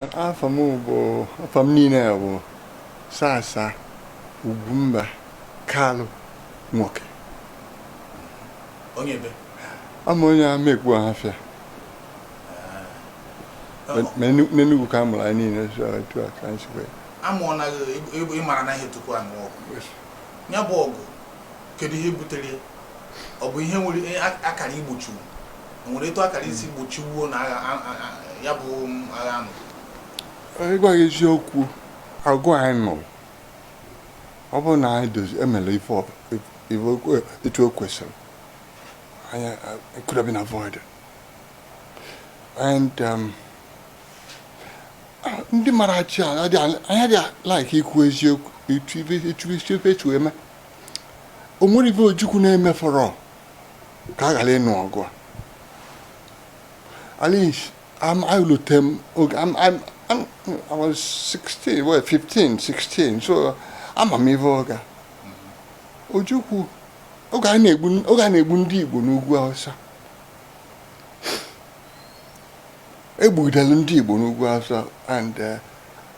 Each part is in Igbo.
afa m bụ afa m niile bụ sasa ugwumba kalụ nwoke onye ebe ama onye amaekpu ọhafịa n'enugwu ka a mụrụ anyị niile so etu a ka anyị si wee a mụọla gị ịmara na ihe tupu a nụọ ọgụ ya bụ ọgụ kedu ihe butere ya ọ bụ ihe nwere ihe a- a kara igbochiwu o nwere etu a kara isi gbochiwuo na agha a- a- a- ya bụ um, agha anụ ịgwa gị eziokwu ọgụ anyị nụrụ ọ bụrụ na anyị dozi emere ife ọ- ife okwe- etu o kwesịrị anyị uh, it could have been avoided and um, ah, ndị mara achị a adị- anyị adịghị like ikwu eziokwu etu ife etu ife etu eme o nwerọ ife Ojukwu na-emefọrọ ka a ghara ịnụ ọgụ a at least um, elote m. Okay, I'm, I'm, I'm, I was 16, well, 15, 16, so ama m ife oge a. Ojukwu, oge a na-egbu ndị Igbo n'ugwu Hausa. E gbugidere ndị Igbo n'ugwu Hausa and uh,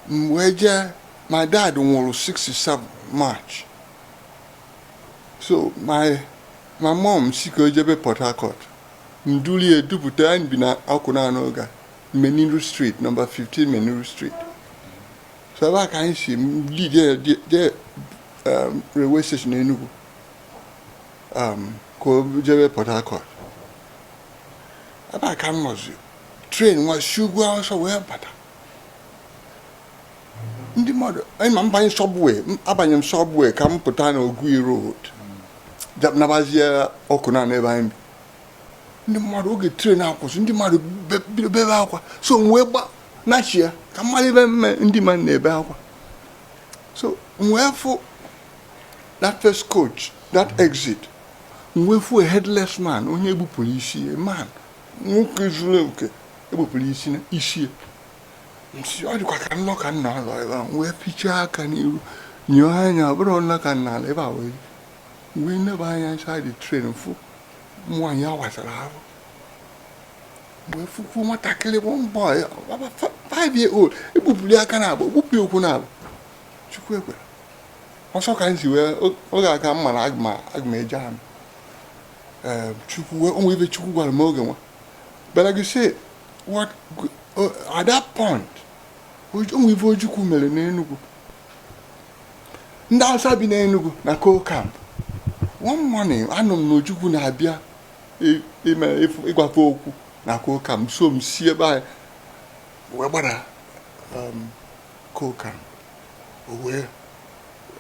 m wee jee My dad nwụrụ 67 March. So my my mom sị ka o jebe Port Harcourt. M dulu ya dupụta anyị bi na Awkunanaw oge a, Meniru Street, number 15 Meniru Street. So ebe a ka anyị si lead ya je- je um, railway station Enugu um, ka o jebe Port Harcourt. Ebe a ka m nọzi. Train nwa shi ugwu Hausa wee bata. ndị mmadụ ịma m banye subway abanye m subway ka m pụta na Ogui road nabazie Awkunanaw ebe anyị bi ndị mmadụ oge train akwụsị ndị mmadụ bido bebe akwa so m wee gba nachi ya ka m malụ ife mere ndị mmadụ na-ebe akwa so m wee fụ that first coach that exit m wee fụ a headless man onye e gbupụrụ isi man nwoke zuru oke e gbupụrụ isi na isi m sị ọ dịkwa ka nlọ ka m na-alọ ebe a wee fichaa aka n'iru nyọọ anya ọ bụrọ nlọ ka m na-alọ ebe a wee wee nebe anya inside train fụ nwaanyị a wasara afọ wee fụkwuo nwatakịrị bụ maybe about fa- five year old e gbupụlụ ya aka naabọ e gbupụ ya ụkwụ naabọ chukwu ekwere ọsọ ka m si wee o- oge a ka m mara aga m aga m eje agha chukwu wee o nwe ife chukwu gwara m oge nwa bịara gị si what at that point o nwe ife ojukwu mere n'enugwu ndị awụsa bi n'enugwu na coal camp one morning anụ m na ojukwu na-abịa ịgwa fa okwu na coal camp so m si ebe anyị wee gbara um, coal camp wee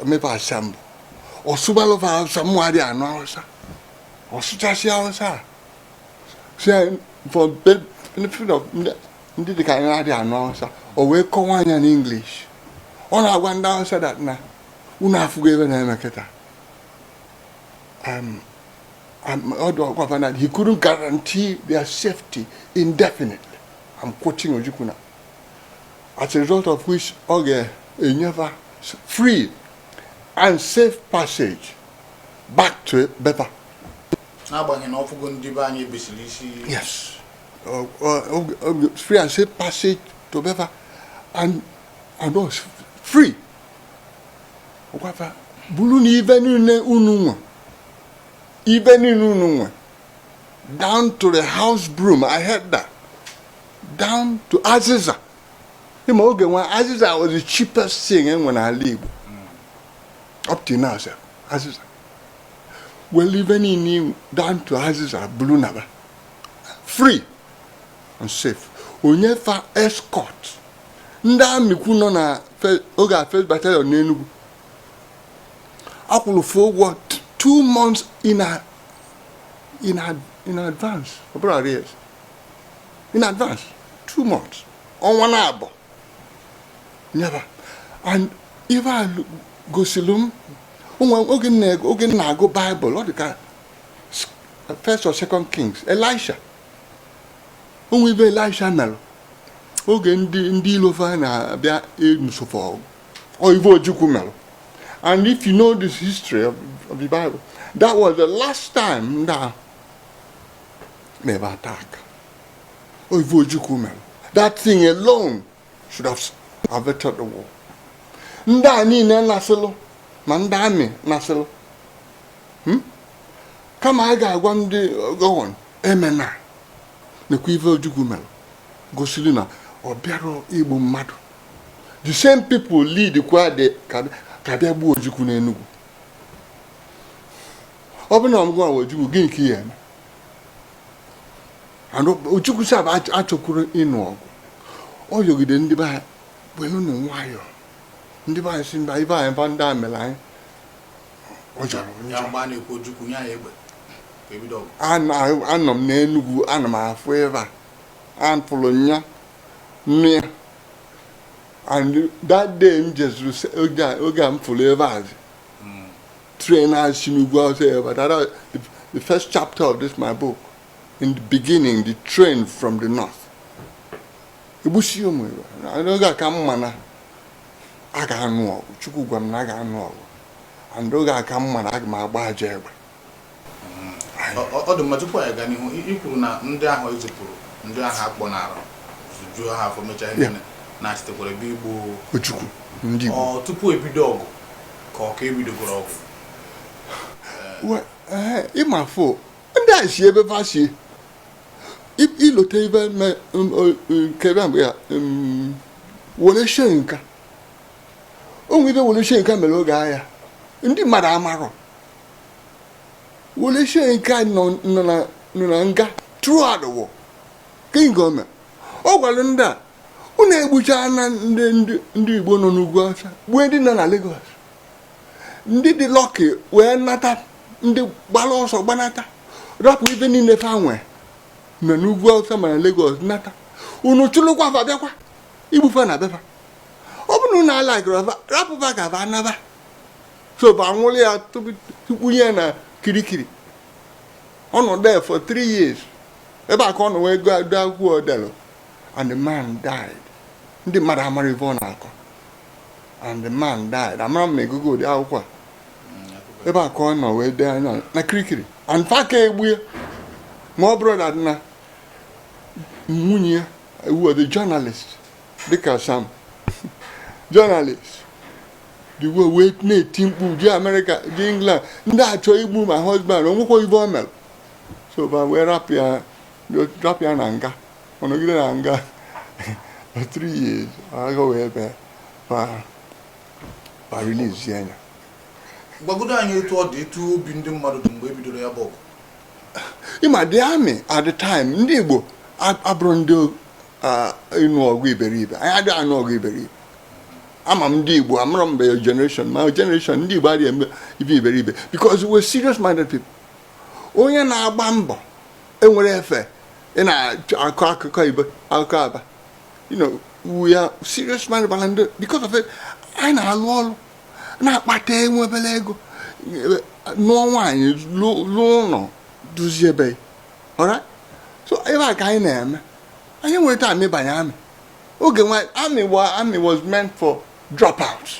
mee fa assemble ọ sụbalụ fa awụsa mụwa adị anụ awụsa ọ sụchasị awụsa a si anyị for the benefit of ndị ndị dịka anyị na-adị anụ awụsa o wee kọwaa ya na english ọ na-agwa ndị awụsa that na unu afụgo ife na-eme kịta um, um, ọ dị ọ gwa fa na he couldn't guarantee their safety indefinitely i'm quoting ojukwu na as a result of which ọ ga-enye fa free and safe passage back to be fa n'agbanyeghị na ọ fụgo ndị be anyị e bisiri isi yes free and safe passage to be fa and and was free ọ gwa fa burunu ife niile unu nwe ife niile unu nwe down to the house broom i heard that down to azịza ị ma oge nwa azịza was the cheapest thing e nwe n'ala igbo up to now sir azịza were ife niile i nwe down to azịza buru naba free and safe o nye fa escort ndị army kwu nọ na fe- oge a first battalion n'Enugu a kwụrụ fa ụgwọ t- two months in, a, in, a, in advance ọ bụrọ arrears in advance two months ọnwa naabọ nye fa and ife a gosiri m o nwe oge m na- oge m na-agụ bible ọ dị ka s- first or second kings elisha o nwe ife elisha mere oge ndị ndị ilo fa na-abịa ịnụso fa ọgụ ọ ife ojukwu mere and if you know this history of, of the bible that was the last time ndị a mere attack Ọ ife Ojukwu mere. That thing alone should have averted the war. Ndị a niile nasịlụ ma ndị army nasịlụ. Hmm? Kama a ga-agwa ndị uh, Gowon emena nekwa ife Ojukwu mere gosiri na ọ bịarọ igbu mmadụ. The same people lead kwa dị ka a bịa gbuo Ojukwu n'Enugu. Ọ bụ na ọ ngị bụ Ojukwu gịnị ka ị ya-eme? Ojukwu sị fa achọkwurọ ịnụ ọgụ ọ yọgide ndị be anyị welu nụ nwayọọ ndị be anyị sị mba ife a fa ndị a mere anyị ọ jọrọ onye Ya mgbe a na-ekwu Ojukwu nye anyị egbe ka ebido ọgụ. Ana- anọ m n'Enugwu ana m afụ ife a afụrụ m ya n'anya and that day m jezuru se- oge a- oge a m fụrụ ife a Train a si n'ugwu Awụsa bata, the, the first chapter of this my book, in the beginning, the train from the north. Egbusie ụmụ Igbo, n'oge a ka m ma na a ga-anụ ọgụ, Chukwu gwa m na a ga-anụ ọgụ, and oge a ka m ma na aga m agba aja egbe. Ọ dị mma tupu anyị gaa n'ihu, i kwuru na ndị ahụ ezipụrụ ndị ahụ akpọ n'ara zujuo ha afọ mechaa ihe na-achịtekwara egbe igbu Ojukwu, ndị Igbo. Ọ tupu ebido ọgụ ka ọ ka ebidogoro ọgụ ịma fụ ndị a si ebe fa si ilote ife nke bịa mgbe ya Wole Soyinka o nwere ife Wole Soyinka mere oge agha ndị mmadụ amarọ Wole Soyinka nọ na nga throughout the war king gọọmenti ọ gwara ndị a unu egbuchaa na ndị Igbo nọ n'ugwu Awụsa gbue ndị nọ na Lagos ndị dị lọkị wee nata ndị gbara ọsọ gbanata rapụ ife niile fa nwee na n'ugwu Awụsa ma na Lagos nata unu chụlụkwa fa bịakwa igbufa na be fa ọ bụ na unu ala rapụ fa ka fa naba so fa nwụrụ ya tụba ya na Kirikiri ọ nọ there for three years ebe a ka ọ nọ wee gụọ akwụkwọ o delu and the man died ndị mmadụ amarọ ife ọ na-akọ and the man died amarọ m ma ị gụgo ụdị akwụkwọ a ebe a ka ọ nọ wee dee ya na Kirikiri and fa ka egbu ya ma ọ bụrọ na na nwunye ya were the journalist dịka some journalist the way wee na-eti mkpu je America je England ndị a chọ igbu my husband o nwekwa ife o mere so fa wee rapụ ya rapụ ya na nga ọ nọgide na nga for three years agha wee bee ma ma release ya anya gwagodo anyị etu ọ dị etu obi ndị mmadụ dị mgbe e bidoro ya bụ ọgụ ịma the army at the time ndị Igbo ab- abụrọ ndị ah, ịnụ ọgụ iberibe anyị adịghị anụ ọgụ iberibe ama m ndị Igbo a mụrụ mgbe generation my generation ndị Igbo adịghị eme ife iberibe because we're serious minded people onye na-agba mbọ enwere efe ị na-akọ akụkọ ibe akụkọ aba you know we are serious man bara ndị because of it anyị na-alụ ọrụ na-akpata enwe obere ego lụọ nwaanyị lụọ ụlọ dozie be alright so ebe a ka anyị na-eme anyị enwerọ time ịbanye army oge nwa army wa army was meant for dropouts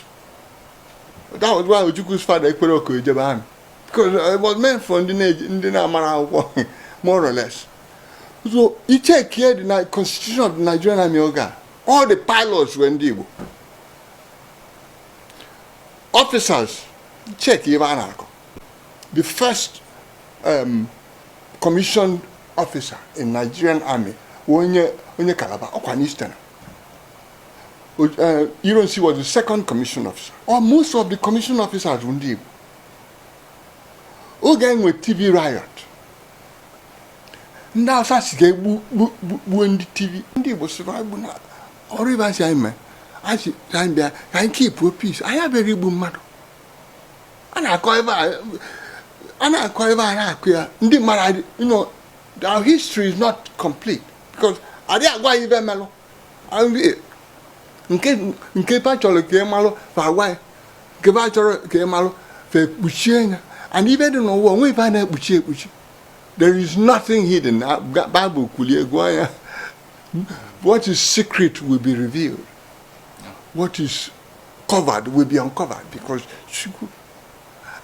that was why Ojukwu's father ekwerọ ka o jebe army because uh, it was meant for ndị na-eji ndị na-amarọ akwụkwọ more or less so ị checkie the Ni- constitution of the nigerian army oge a all the pilots were ndị igbo officers ị checkie ibe a na-akọ the first um, commissioned officer in nigerian army wụ onye onye calabar ọkwa n'eastern O- eh, ironsi was the second commissioned officer or most of the commissioned officers wụ ndị igbo oge e nwe Tiv riot ndị awụsa sị ga-egbu gbuo ndị Tiv ndị igbo sịrị anyị gbu na ọrụ ibe anyị mee anyị anyị bịa ka anyị keep peace anyị abịarọ igbu mmadụ a na-akọ ibe a na-akọ ibe a na-akọ ya ndị mmadụ you know our history is not complete because adịghị agwa anyị ibe melụ nke ba chọrọ ka ị malụ fa gwa ya nke ba achọrọ ka ị malụ fa ekpuchie ya and ibe dị n'ụwa onwe ife a na-ekpuchi ekpuchi there is nothing hidden Bible kwulie gụọ ya what is secret will be revealed what is covered will be uncovered because Chukwu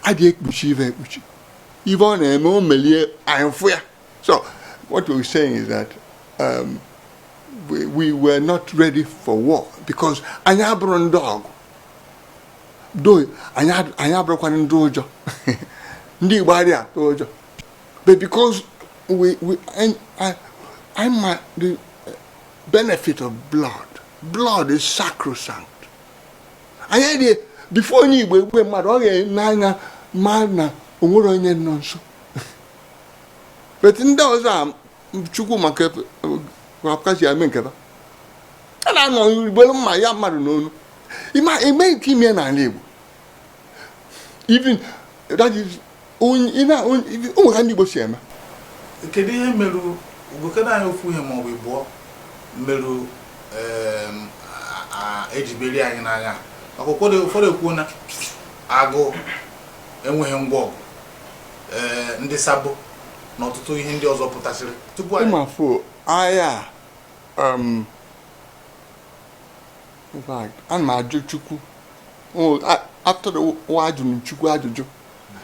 adịghị ekpuchi ife ekpuchi ife ọ na-eme o melie anyị fụ ya So what we're saying is that um, we, we were not ready for war because anyị abụrọ ndị ọgụ though anyị abụrọkwanụ ndị ụjọ ndị Igbo adịghị atụ ụjọ but because we, we I, I, I my, the benefit of blood blood is sacrosanct anyị adịghị before onye Igbo egbuwe mmadụ ọ ga-ene anya ma na o nwere onye nọ nso but ndị awụsa chukwu ma ka apụkachi eme nke a na-anọ ugboro mma ya mmadụ n'onu ime nke ime n'ala Igbo even that is ụmụ ha ndị Igbo si eme kedu ihe mere gokere anyị ofu ihe maọbụ ịbụọ merụ e ji merie anyị n'agha maka ụfọdụ ekwuo na agụụ enweghị ngwa ọgụ ee ndị sabo na ọtụtụ ihe ndị ọzọ pụtasịrị tupu anyị ịmafụ agha a, um, in fact, ana m ajụ chukwu O, a- after war ajụrụ m chukwu ajụjụ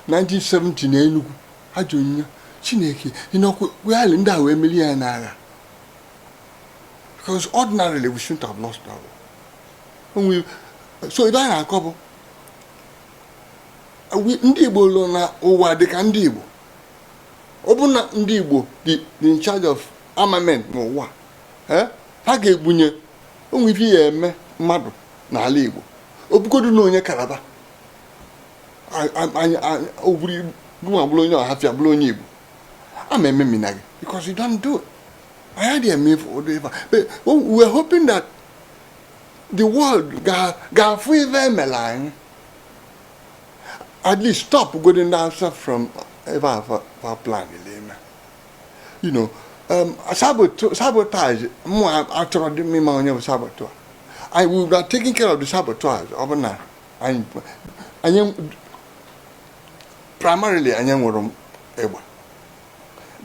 1970 na enugwu ajụrụ m ya chineke ị nọkwa wegharị ndị a wee merie ya n'agha because ordinarily we shouldn't have lost our war. O nwere- so ebe a na-akọ bụ ndị Igbo lụrụ na ụwa dị ka ndị Igbo ọ bụ na ndị Igbo dị in charge of armament n'ụwa eh, ha ga-egbunye o nwe ife ya eme mmadụ n'ala Igbo ọ bụgodu na onye Kalaba ọ bụrụ Ngwa bụrụ onye Ọhafịa bụrụ onye Igbo ama ememina gị because you don't do it. I had a meal for Odeva. But we were hoping that the world ga-afụ ife e mere anyị at least stop godi ndị Hausa from ife fa plan ime you know um, sabotage mụ achọrọdị ịma onye bụ saboteur I will be taking care of the saboteurs ọ bụ na anyị primarily anyị nwere egbe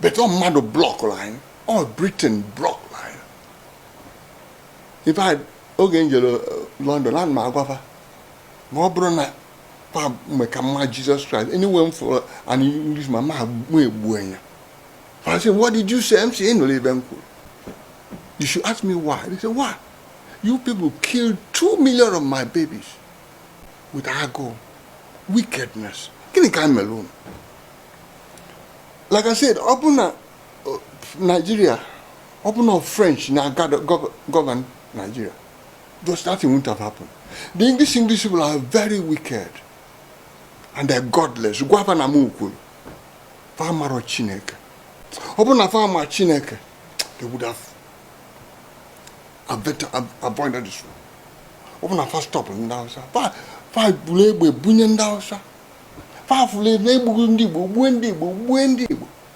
but ọ mmadụ blọkụrụ anyị ọ Britain blọk in fact oge m jere london ana m agwa fa ma ọ bụrụ na fa mgbe ka m ma Jesus Christ anywhere m fụrụ an english man mụ egbue nya fa sị what did you say m sị ị nụrụ ife m kwuru you should ask me why they say why you people killed two million of my babies with agụụ wickedness gịnị ka m mere unu like i said ọ bụ na Nigeria ọ bụ na French na-govern Nigeria such a thing won't have happened the English English people are very wicked and they're godless gwa fa na m kwuru fa amarọ Chineke ọ bụ na fa ma Chineke they would have avoided this one ọ bụ na fa stop ndị Hausa fa buru egbe bunye ndị Hausa fa buru egbe gbue ndị Igbo gbue ndị Igbo gbue ndị Igbo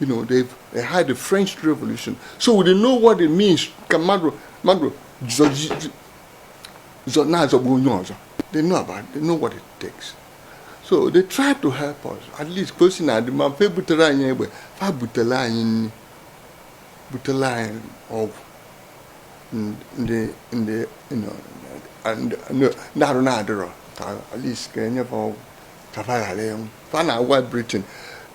you know they they had the French Revolution so they know what it means ka mmadụ mmadụ zọ na-azọgbu onye ọzọ they know about it. they know what it takes so they try to help us at least ka o si na-adị mma fa butere anyị egbe fa butere anyị nri butere anyị ọgwụ ndị ndị ndị arụ na-adịrọ ka at least ka e nye fa ọgwụ ka fa ghara ịnwụ fa na-agwa Britain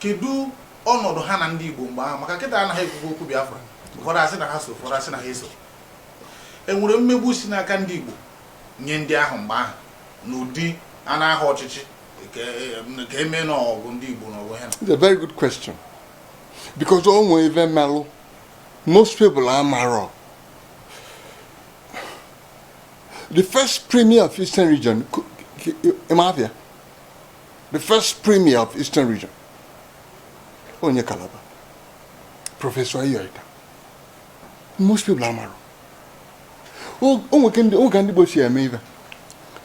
kedu ọnọdụ ha na ndị Igbo mgbe ahụ maka kịta anaghị ekwukwu okwu Biafra ụfọdụ asị na ha so ụfọdụ asị na ha eso e nwere mmegbu si n'aka ndị Igbo nye ndị ahụ mgbe ahụ n'ụdị a na-aha ọchịchị ka eme n'ọgụ ndị Igbo n'ọgụ ha It's a very good question because o nwere ife melụ most people amarọ the first premier of Eastern region, ị ma afa ya, the first premier of Eastern region, onye Calabar, Professor Eyo Ita. Most people amarọ. O nwe ka ndị oge ndị Igbo si eme ife.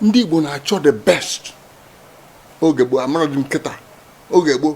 Ndị Igbo na-achọ the best. Oge gboo, amarọdị m kịta. Oge gboo.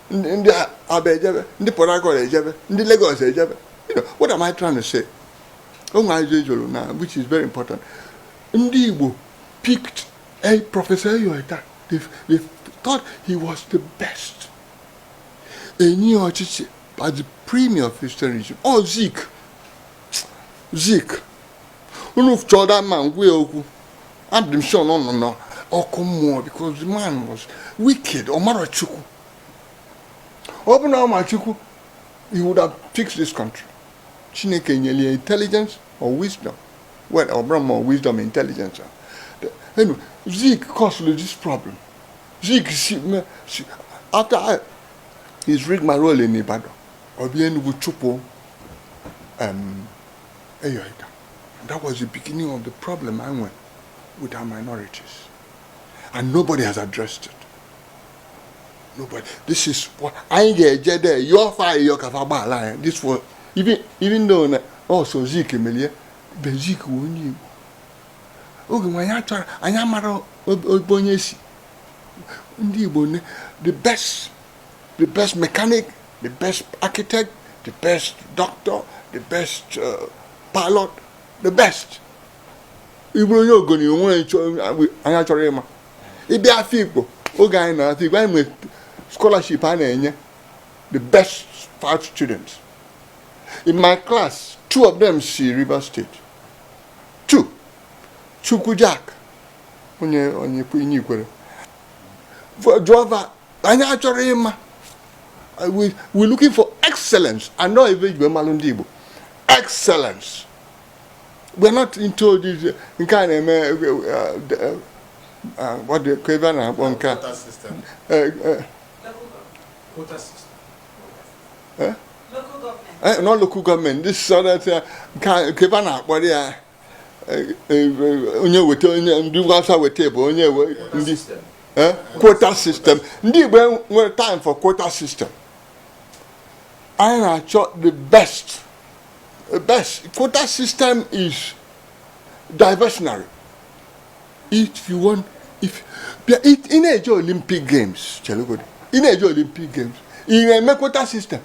ndị Aba ejebe ndị Port Harcourt ejebe ndị Lagos ejebe you know what am I trying to say onwe ajụ ejoro na which is very important ndị Igbo picked a Professor Eyo Ita they, they thought he was the best e nye ya ọchịchị by the premier of Eastern region ọ oh, Zik Zik unu chọọ that man gwa ya okwu adị m sure na ọ nọ na ọkụ mmụọ because the man was wicked ọ marọ chukwu ọ bụ na ọ ma chukwu he would have fixed this country chineke nyere ya intelligence or wisdom well ọ bụrọ ma wisdom intelligence you know zik caused this problem zik si me- si- after his rigmarole in ibadan ọ bịa enugwu chụpụ um, Eyo Ita And that was the beginning of the problem I went with our minorities. And nobody has addressed it. Nobody. This is what I get there. Your fire, your kafaba line. This was even even though also Zeke Melia, but Zeke won you. oge nwa ya chọrọ anyị amara ebe onye si ndị Igbo the best the best mechanic, the best architect, the best doctor, the best uh, pilot, the best. Ị bụrụ onye Ogoni o nwe onye chọrọ ịma. Ị bịa Afikpo oge anyị nọ n'Afikpo anyị nwere scholarship a na-enye the best five students. In my class, two of them si River State. Two. Chukwu Jack onye onye Ikwerre. Jụọ anyị achọrọ ịma we we looking for excellence and na ọ ive eji malụ ndị Igbo excellence we are not into this nke a na-eme ọ dị ka ive a na-akpọ nke a nọ local government ndị sọrọ nke ive a na-akpọrọ ya onye weta onye ndị Hausa weta bụ onye ndị eh, quota system ndị Igbo enwerọ time for quota system anyị na-achọ the best the best quota system is diversionary if you want if ị na-eje Olympic Games chelegodi ị na-eje Olympic Games ị na-eme quota system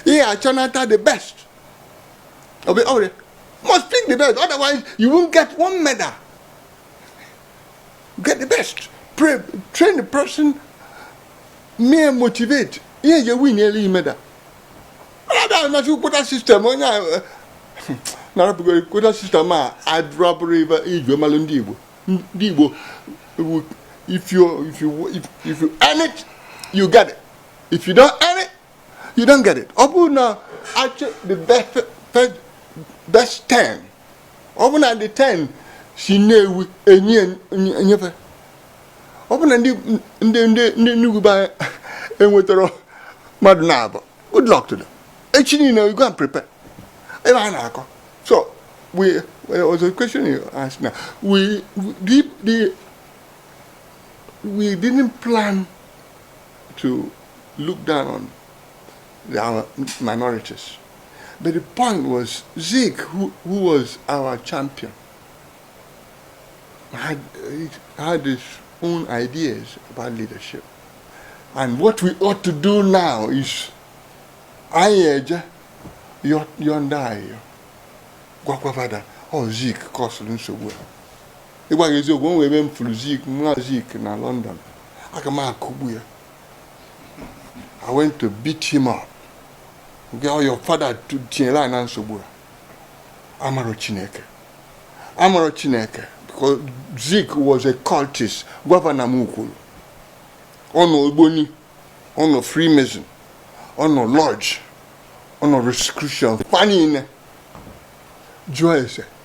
ị achọnata the best obi ọ bụrụ must pick the best otherwise you won't get one medal get the best pray train the person mee motivate ihe eji win elu medal ọ bịa na-ekwu quota system onye a eh, narapụgoro quota system adịrọ abụrọ ive eji amalụ ndị igbo ndị igbo if you if you if you earn it you get it if you don't earn it You don't get it. Ọ bụrụ na achọọ the best, best, best ten, ọ bụrụ na the ten si Nnewi enye enye- enye fa, ọ bụrụ na ndị ndị ndị ndị Enugu be anyị enwetara mmadụ naabọ, good luck to them. Echi niile you go and prepare. Ive a na-akọ. So we there was a question you asked now. We, we the, the we didn't plan to look down on our minorities. But the point was Zik, who, who was our champion, had, had his own ideas about leadership. And what we ought to do now is anyị eje yọọ ndị a ayịyọ gwakwa va na ọ Zik kọsụrụ nsogbu a ịgwa gị eziokwu o nwere ebe m furu zik nwa zik na london aka m akụgbu ya i went to beat him up na ọ your father tu- tinyere anyị na nsogbu a amarọ chineke amarọ chineke because zik was a cultist gwa va na m kwuru ọ nọ ogboni ọ nọ freemason ọ nọ lodge ọ nọ rosicrucian fa niile jụọ ese